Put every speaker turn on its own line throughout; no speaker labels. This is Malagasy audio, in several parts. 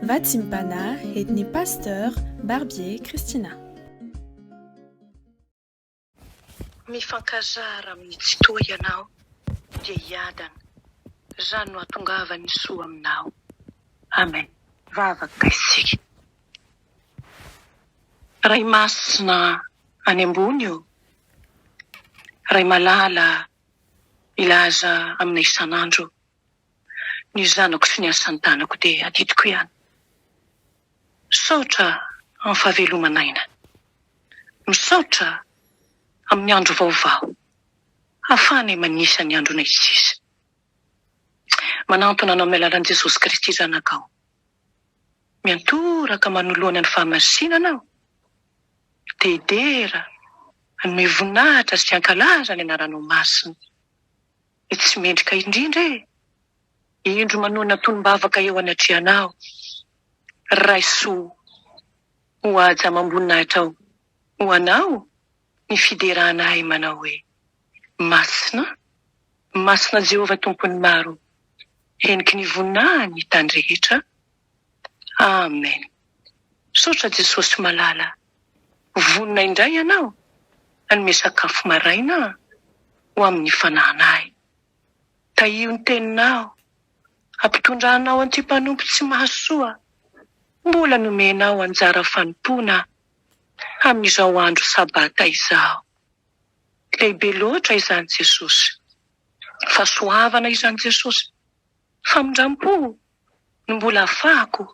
Vatsimbana edn'ny Pasteur Barbier Christina.
Mifankazara amin'ny tsy toa ianao dia hiadana izany no hatongavan'ny soa aminao. Amen. Vavaka isika. Ray Masina any ambony ô, Ray malala milaza aminay isan'andro. ny zanako sy ny asan-tanako dia adidiko ihany. Misaotra amin'ny fahaveloman'aina. Misaotra amin'ny andro vaovao ahafahanay manisa ny andronay sisa. Manantona anao amin'ny alalan'i Jesosy Kristy Zanakao. Miantoraka manoloana ny fahamasinana aho. Dedera, hanome voninahitra sy hankalaza ny anaranao masina. Ny tsy mendrika indrindra e! Indro manoana tonom-bavaka eo anatrehanao, Raiso ho haja amam-boninahitra ao ho anao ny fiderana ahy manao hoe, Masina, masina Jehovah Tompon'ny maro, heniky ny voninahiny tany rehetra Amen misaotra Jesosy malala vonona indray ianao hanome sakafo maraina ho amin'ny fanahanahy tahio ny teninao hampitondra anao anty mpanompo tsy mahasoa mbola nomenao anjara fanompoana amin'izao andro sabata izao lehibe loatra izany Jesosy fahasoavana izany Jesosy Famindrampo no mbola afahako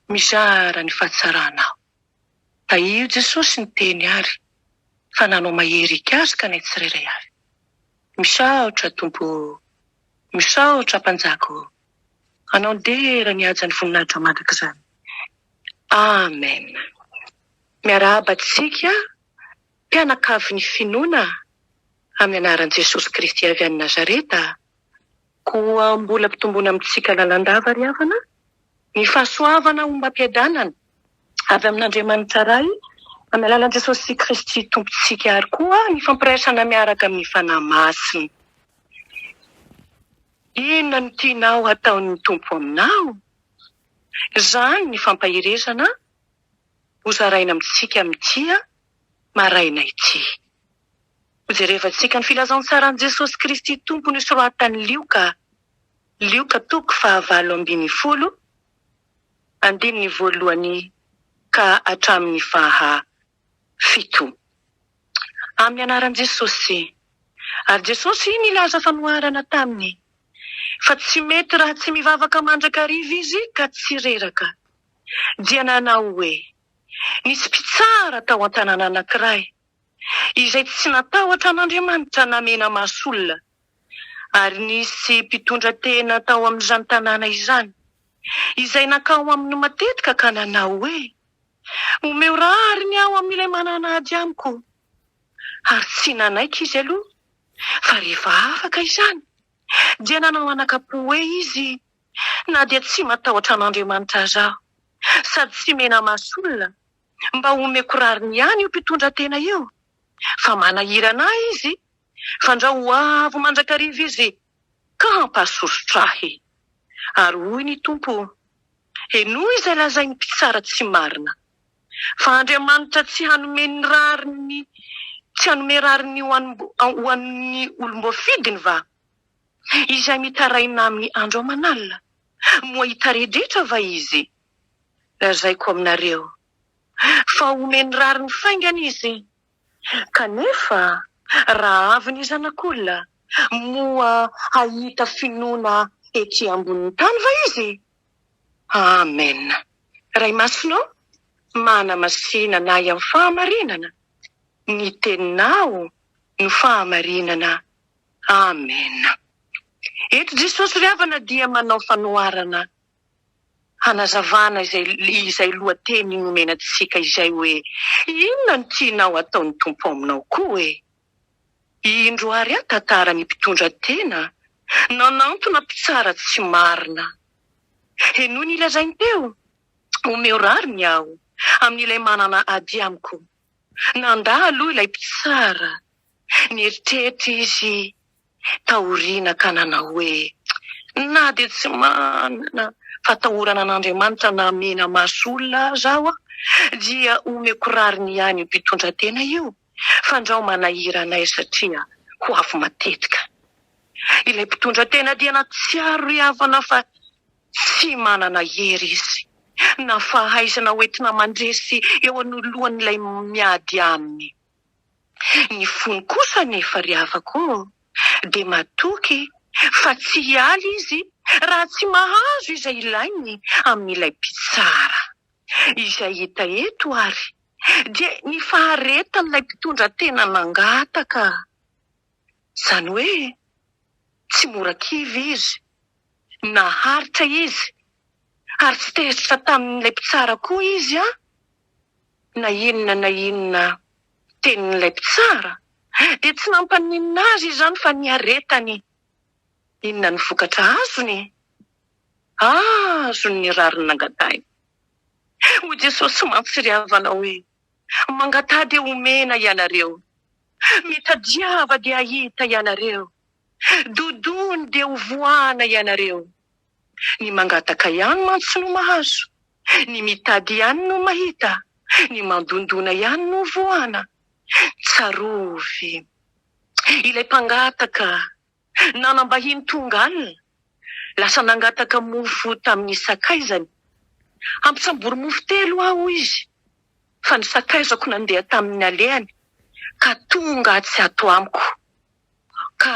mizara ny fahatsarana aho. Tahiry Jesosy niteny ary fa nanao mahery hikasika anay tsirairay avy. Misaotra Tompo o! Misaotra Mpanjaka o! Anao ny dera ny hajan'ny voninahitra mandrakizay. Amen. Miarahaba antsika mpianakavin'ny finoana amin'ny anaran'i Jesosy Kristy avy any Nazareta Koa mbola mpitombona amintsika lalandava ry havana ny fahasoavana ho mba-piadanana avy amin'Andriamanitra Ray amin'ny alalan'i Jesosy Kristy Tompontsika ary koa ny fampiraisana miaraka amin'ny Fanahy Masina. Inona no tianao hataon'ny Tompo aminao? Izany ny fampaherezana ho zaraina amintsika mitia maraina ity. Hojerevantsika ny filazantsaran'i Jesosy Kristy Tompo nosoratan'i Lioka, Lioka toko fahavalo ambin'ny folo, andininy voalohany ka hatramin'ny faha fito. Amin'ny anaran'i Jesosy. Ary Jesosy nilaza fanoharana taminy fa tsy mety raha tsy mivavaka mandrakariva Izy ka tsy reraka, dia nanao hoe. Nisy mpitsara tao an-tanàna anankiray izay tsy natahotra an'Andriamanitra na mena-maso olona. Ary nisy mpitondra tena tao amin'izany tanàna izany izay nankao aminy matetika ka nanao hoe, Omeo rariny aho amin'ilay manana ady amiko. Ary tsy nanaiky izy aloha, fa rehefa afaka izany, dia nanao anakam-po hoe izy na dia tsy matahotra an'Andriamanitra aza aho, sady tsy mena-maso olona, mba homeko rariny ihany io mpitondratena io, fa manahirana ahy izy, fandrao ho avy mandrakariva izy ka hampahasosotra ahy. Ary hoy ny Tompo, Henoy izay lazain'ny mpitsara tsy marina, fa Andriamanitra tsy hanome ny rariny, tsy hanome rariny ho an'ny olom-boafidiny va? Izay mitaraina amin'ny andro aman'alina, moa hitaredretra va izy? Lazaiko aminareo, fa homeny rariny faingana izy. Kanefa raha avy ny Zanak'olona, moa hahita finoana ety ambonin'ny tany va izy? Amen. Ray Masina ô, manamasinana ahy amin'ny fahamarinana. Ny Teninao no fahamarinana. Amena. Eto Jesosy ry havana dia manao fanoharana hanazavana izay izay lohateny nomena antsika izay hoe Inona no tianao ataon'ny Tompo aminao koa hoe indro ary aho tantara ny mpitondra tena nanantona mpitsara tsy marina. Henoy ny lazainy teo, omeo rariny aho amin'ilay manana ady amiko. Nandà aloha ilay mpitsara Nieritreritra izy taoriana ka nanao hoe, Na dia tsy manana fatahorana an'Andriamanitra na hamena maso olona aza aho, dia omeko rariny ihany io mpitondratena io, fandrao manahira anay satria ho avy matetika. Ilay mpitondratena dia nahatsiaro ry havana fa tsy manana hery izy na fahaizana hoentina mandresy eo anoloan'ilay miady aminy. Ny fony kosa anefa ry havako ô, dia matoky fa tsy hiala izy raha tsy mahazo izay ilainy amin'ilay mpitsara. Izay hita eto ary dia ny faharetan'ilay mpitondra tena nangataka. Izany hoe tsy mora kivy izy. Naharitra izy, ary tsy tezitra tamin'ilay mpitsara koa izy an! Na inona na inona tenin'ilay mpitsara, dia tsy nampaninona azy izany fa niaretany. Inona no vokatra azony? Azony ny rariny nangatahiny. Hoy Jesosy mantsy ry havana hoe. Mangataha dia homena ianareo, mitadiava dia hahita ianareo, dodony dia hovoahana ianareo. Ny mangataka ihany mantsy no mahazo, ny mitady ihany no mahita, ny mandondona ihany no hovoahana. Tsarovy ilay mpangataka. Nanam-bahiny tonga alina, lasa nangataka mofo tamin'ny sakaizany. Ampitsambory mofo telo aho, hoy izy, fa ny sakaizako nandeha tamin'ny alehany ka tonga atsy ato amiko, ka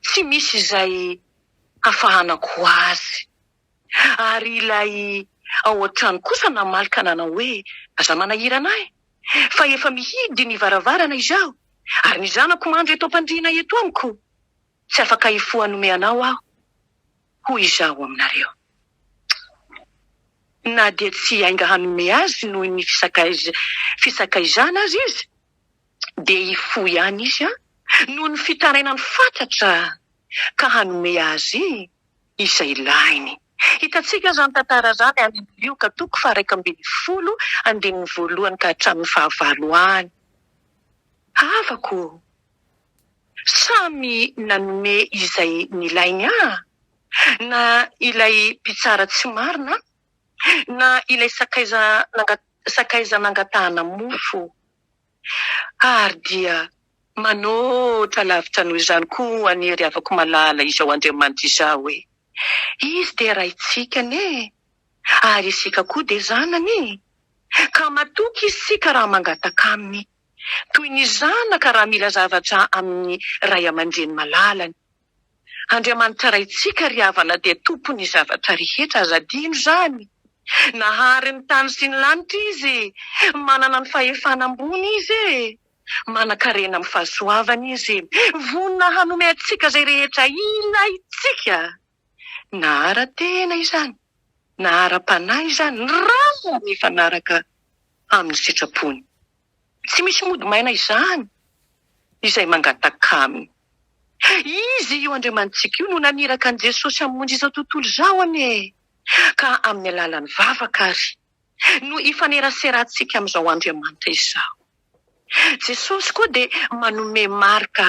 tsy misy izay hafahanako azy. Ary ilay ao an-trano kosa namaly ka nanao hoe, Aza manahirana ahy, fa efa mihidy ny varavarana izaho, ary ny zanako mandry eto am-pandriana eto amiko. Tsy afaka hifoha hanome anao aho, hoy izaho aminareo. Na dia tsy hiainga hanome azy noho ny fisakaizana aza izy, dia hifoha ihany izy noho ny fitarainany fatratra ka hanome azy izay lahiny. Hitantsika izany tantara izany any amin'ny Lioka toko faha-iraika ambin'ny folo andininy voalohany ka hatramin'ny fahavalo any. Havako ô! Samy nanome izay nilainy aho, na ilay mpitsara tsy marina, na ilay sakaiza sakaiza nangatahana mofo. Ary dia manôtra lavitra noho izany koa an'i Hery havako malala izao Andriamanitra izao hoe, Izy dia Raintsika anie, ary isika koa dia zanany, ka matoky isika raha mangataka Aminy, toy ny zanaka raha mila zavatra amin'ny ray aman-dreny malalany. Andriamanitra Raintsika ry havana dia Tompon'ny zavatra rehetra, aza adino izany. Nahary ny tany sy ny lanitra Izy, manana ny fahefana ambony Izy e! Manankarena amin'ny fahasoavany Izy, vonona hanome antsika izay rehetra ilaintsika, na ara-tena izany, na ara-panahy izany, raha mifanaraka amin'ny sitrapony. Tsy misy mody maina izany izay mangataka Aminy. Izy io Andriamanitsika io no naniraka an'i Jesosy hamonjy izao tontolo izao anie e! Ka amin'ny alalan'ny vavaka àry no ifaneraserantsika amin'izao Andriamanitra izao. Jesosy koa dia manome marika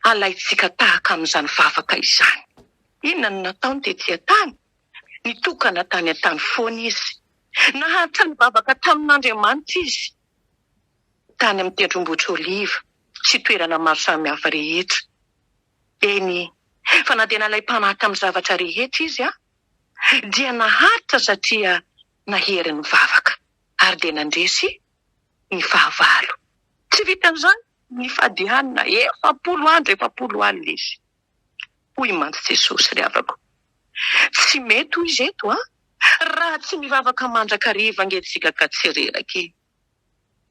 halaintsika tahaka amin'izany vavaka izany. Inona no nataony tetỳ an-tany? Nitokana tany an-tany foana izy. Nahatrana vavaka tamin'Andriamanitra izy. tany amin'ny tendrombohitr'Oliva sy toerana maro samihafa rehetra. Eny, fa na dia nalay mpanaka amin'ny zavatra rehetra izy aho, dia naharitra satria nahery nivavaka, ary dia nandresy ny fahavalo. Tsy vitan'izany, nifady hanina efapolo andro efapolo alina izy. Hoy mantsy Jesosy, Ry havako, tsy mety ho izy eto raha tsy mivavaka mandrakariva ange isika ka tsy reraka e!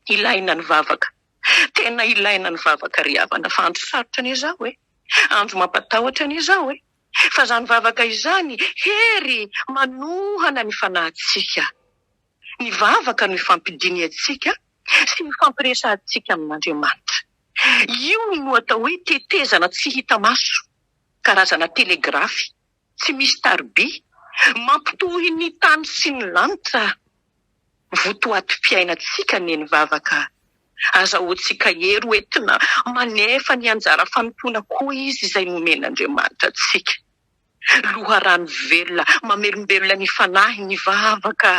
Ilaina ny vavaka. Tena ilaina ny vavaka ry havana fa andro sarotra anie izao e! Andro mampatahotra anie izao e! Fa izany vavaka izany hery manohana ny fanahintsika. Ny vavaka no ifampidinihantsika sy ifampiresahantsika amin'Andriamanitra. Io no atao hoe tetezana tsy hita maso, karazana telegrafy. tsy misy tariby, mampitohy ny tany sy ny lanitra votoatim-piainantsika ny vavaka. Azahoantsika hery ho entina manefa ny anjara fanompoana koa izy izay nomen'Andriamanitra antsika. Loharano velona mamelombelona ny fanahy ny vavaka.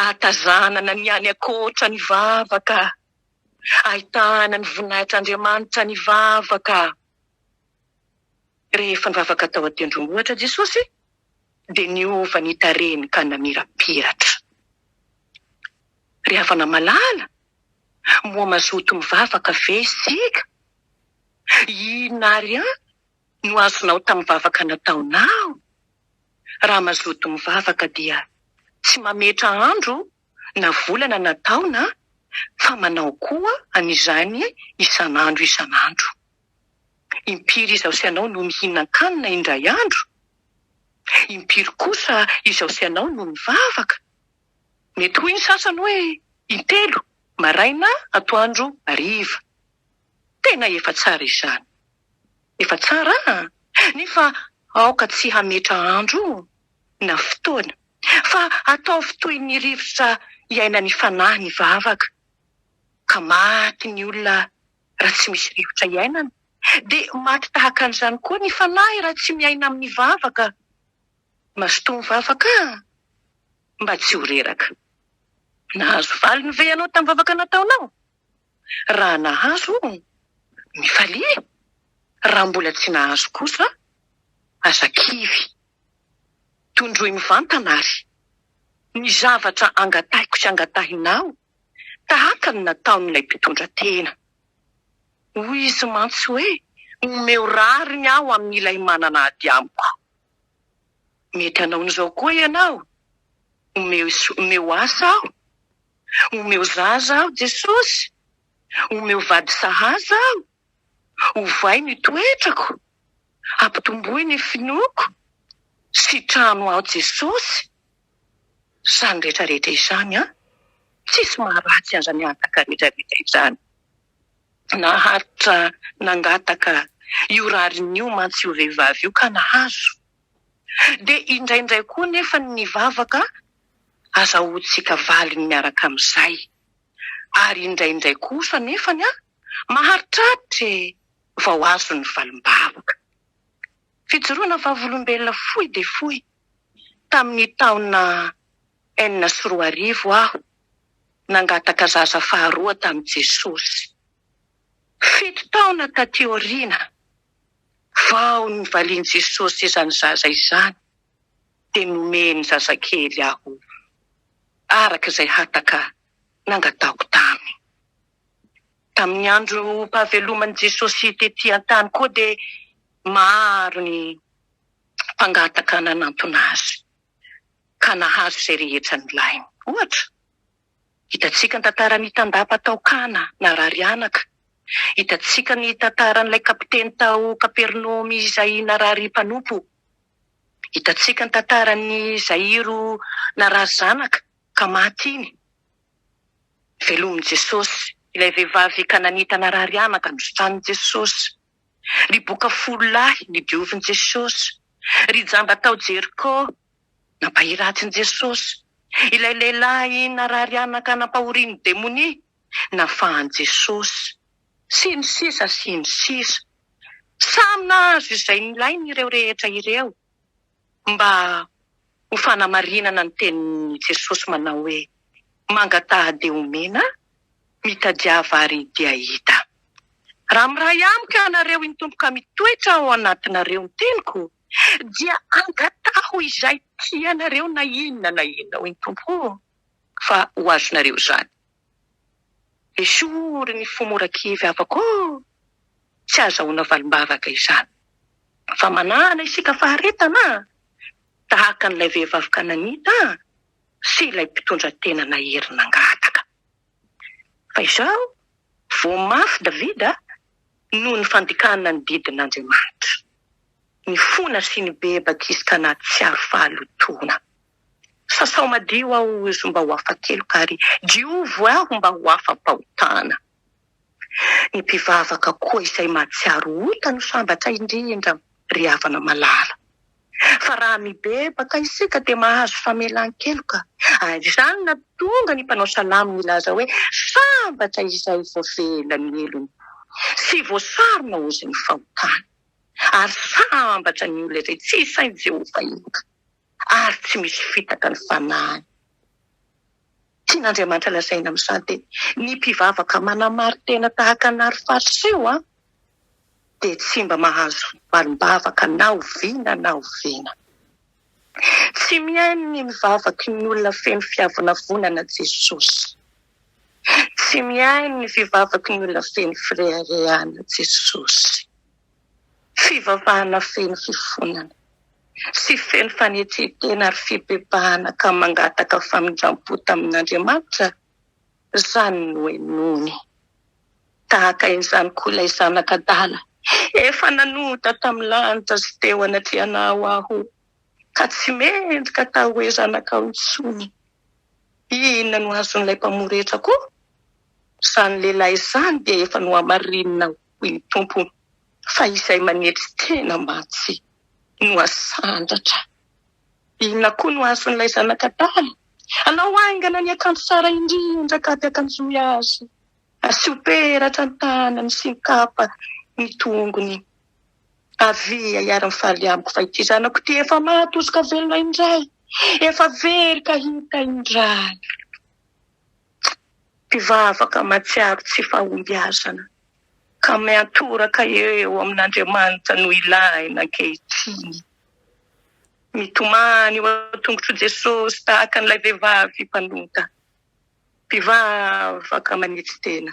Ahatazanana ny any ankoatra ny vavaka. Ahitana ny voninahitr'Andriamanitra ny vavaka. Rehefa nivavaka tao an-tendrombohitra Jesosy, dia niova ny tarehiny ka namirapiratra. Ry havana malala, moa mazoto mivavaka ve isika? Inona àry àry no azonao tamin'ny vavaka nataonao? Raha mazoto mivavaka, dia tsy mametra andro na volana na taona, fa manao koa an'izany isan'andro isan'andro. Impiry izaho sy ianao no mihinan-kanina indray andro? Impiry kosa izaho sy ianao no mivavaka? Mety hoy ny sasany hoe intelo, maraina, atoandro, hariva. Tena efa tsara izany. Efa tsara an! Nefa aoka tsy hametra andro na fotoana, fa ataovy toy ny rivotra iainan'ny fanahy ny vavaka, ka maty ny olona raha tsy misy rivotra iainana, dia maty tahaka an'izany koa ny fanahy raha tsy miaina amin'ny vavaka. Mazotoa mivavaka aho mba tsy ho reraka. Nahazo valiny ve ianao tamin'ny vavaka nataonao? Raha nahazo, mifalia. Raha mbola tsy nahazo kosa, aza kivy. Tondroy mivantana àry ny zavatra angatahiko sy angatahinao. tahaka ny nataon'ilay mpitondra tena. Hoy izy mantsy hoe, Omeo rariny aho amin'ilay manana ady amiko. Mety hanao an'izao koa ianao, Omeo, omeo asa aho. Omeo zaza aho, Jesosy. Omeo vady sahaza aho. Ovay ny toetrako. Ampitomboy ny finoako. Sitrano aho, Jesosy. izany rehetrarehetra izany an! Tsisy maharatsy an'izany hataka rehetrarehetra izany. Naharitra nangataka io rariny io mantsy io vehivavy io ka nahazo. Dia indraindray koa anefa ny vavaka azahoantsika valiny miaraka amin'izay. Ary indraindray kosa anefany an, maharitraritra e! vao azo ny valim-bavaka. Fijoroana vavolombelona fohy dia fohy tamin'ny taona enina sy roa arivo aho nangataka zaza faharoa tamin'i Jesosy. Fito taona taty aoriana, vao nivalian'i Jesosy izany zaza izany, dia nomeny zazakely aho araka izay hataka nangataoko taminy. Tamin'ny androm-pahaveloman'i Jesosy tetỳ an-tany koa dia maro ny mpangataka nanantona azy, ka nahazo izay rehetra nilainy. Ohatra, hitantsika ny tantaran'ny tandapa tao Kana, narary anaka. Hitantsika ny tantaran'ilay kapiteny tao Kapernaomy izay narary mpanompo. Hitantsika ny tantaran'ny Jairo narary zanaka, ka maty iny. Velomin'i Jesosy ilay vehivavy kananita narary anaka nosotranin'i Jesosy. Ry boka folo lahy nodiovin'i Jesosy. Ry jamba tao Jeriko nampahiratin'i Jesosy. Ilay lehilahy narary anaka nampahorian'ny demonia nafahan'i Jesosy. Sy ny sisa sy ny sisa. Samy nahazo izay nilainy ireo rehetra ireo. mba ho fanamarinana ny tenin'i Jesosy manao hoe, Mangataha dia homena, mitadiava ary dia hahita. Raha miray amiko ianareo iny Tompo ka mitoetra ao anatinareo ny teniko, dia angataho izay tianareo na inona na inona hoy ny Tompo, fa ho azonareo izany. Esory ny fo mora kivy havako ô! Tsy azahoana valim-bavaka izany. Fa manahana isika faharetana a! Tahaka an'ilay vehivavy kananita a! Sy ilay mpitondra tena nahery nangataka. Fa izao, voa mafy Davida noho ny fandikana ny didin'Andriamanitra. Nifona sy nibebaka izy ka nahatsiaro fahalotoana. Sasao madio aho zo mba ho afa-keloka ary diovy aho mba ho afa-pahotana. Ny mpivavaka koa izay mahatsiaro ota no sambatra indrindra ry havana malala. Fa raha mibebaka isika dia mahazo famelan-keloka ary izany no nahatonga ny mpanao salamo nilaza hoe, sambatra izay voavela ny helony sy voasarona ozon'ny fahotany, ary sambatra ny olona izay tsy isain'i Jehovah heloka. ary tsy misy fitaka ny fanahiny. Tian'Andriamanitra lazaina amin'izany dia ny mpivavaka manamari-tena tahaka ny ry Fariseo dia tsy mba mahazo valim-bavaka na oviana na oviana. Tsy mihaino ny mivavaky ny olona feno fiavonavonana Jesosy. Tsy mihaino ny fivavaky ny olona feno fireharehana Jesosy. Fivavahana feno fifonana sy feno fanetren-tena ary fibebahana ka mangataka famindram-po tamin'Andriamanitra izany no henoiny. Tahaka izany koa ilay Zanak'adala, Efa nanota tamin'ny lanitra sy teo anatrehanao Aho, ka tsy mendrika hatao hoe zanakao intsony. Inona no azon'ilay Mpamory hetra koa? Izany lehilahy izany dia efa nohamarininao. hoy ny Tompo, fa izay manetry tena mantsy no hasandratra. Inona koa no azon'ilay zanak'Adama? Anao haingana ny akanjo tsara indrindra ka ampiakanjoy azy, asio peratra ny tanany sy ny kapa ny tongony. Avia hiara-mifaly amiko, fa ity zanako ity efa maty hosoka velona indray, efa very ka hita indray. mpivavaka mahatsiaro tsy fahombiazana ka miantoraka eo amin'Andriamanitra no ilahina ankehitriny. Mitomany eo an-tongotr'i Jesosy tahaka an'ilay vehivavy mpanota, mpivavaka manetry tena.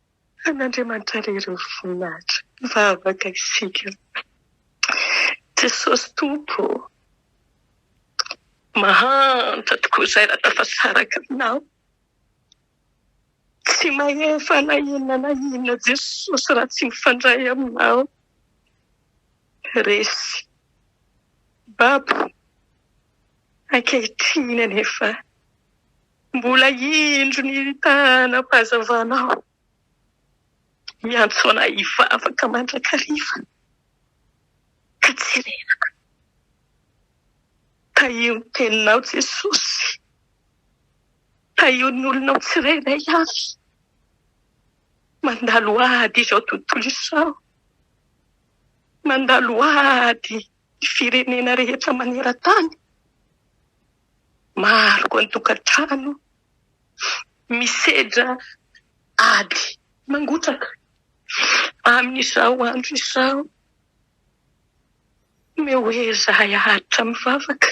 An'Andriamanitra re ireo voninahitra. Mivavaka isika. Jesosy Tompo ô, mahantra tokoa izay raha tafasaraka Aminao. Tsy mahefa na inona na inona Jesosy raha tsy mifandray Aminao. Resy. Babo, ankehitriny anefa. Mbola indro ny tanam-pahazavanao miantso anay hivavaka mandrakariva ka tsy reraka. Tahio ny teninao Jesosy, tahio ny olonao tsirairay avy mandalo ady izao tontolo izao, mandalo ady. Ny firenena rehetra maneran-tany maharoko an-tokantrano misedra ady mangotraka amin'izao andro izao. Omeo ho ery izahay haharitra mivavaka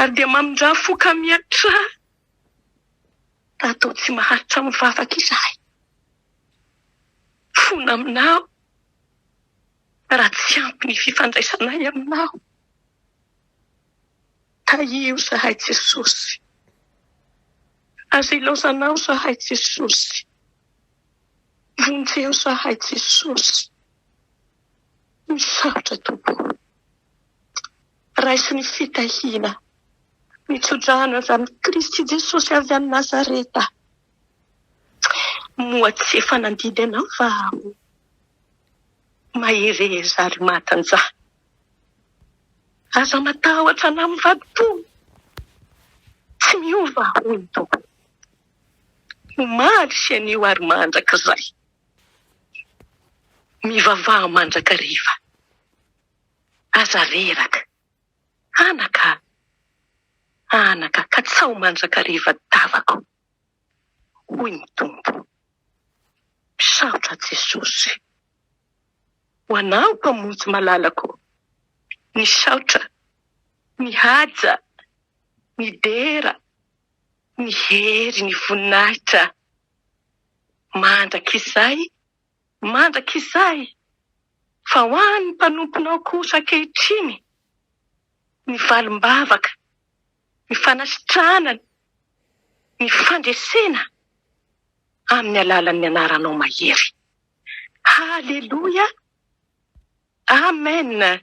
ary dia mamindrà fo ka miatrà raha toa tsy maharitra mivavaka izahay. Fona aminao. Raha tsy ampy ny fifandraisanay aminao, tahio zahay Jesosy. Aza ilaozanao zahay Jesosy. Vonjeo zahay Jesosy. Misaotra Tompo o. Raiso ny fitahiana, ny tso-drano avy amin'i Kristy Jesosy avy any Nazareta. Moa tsy efa nandidy anao fa mahereza ary matanjaha. Aza matahotra anà mivadi-po, tsy miova hoy ny Tompo. Omaly sy anio ary mandrakizay. Mivavaha mandrakariva. Aza reraka. Anaka a! Anaka ka tsaho mandrakariva davako. hoy ny Tompo. Misaotra Jesosy ho anao Mpamonjy malalako, misaotra, mihaja, midera, ny hery, ny voninahitra mandrakizay mandrakizay fa ho an'ny mpanomponao kosa ankehitriny ny valim-bavaka. ny fanasitrahana ny fandresena amin'ny alalan'ny anaranao mahery. Haleloia! Amena!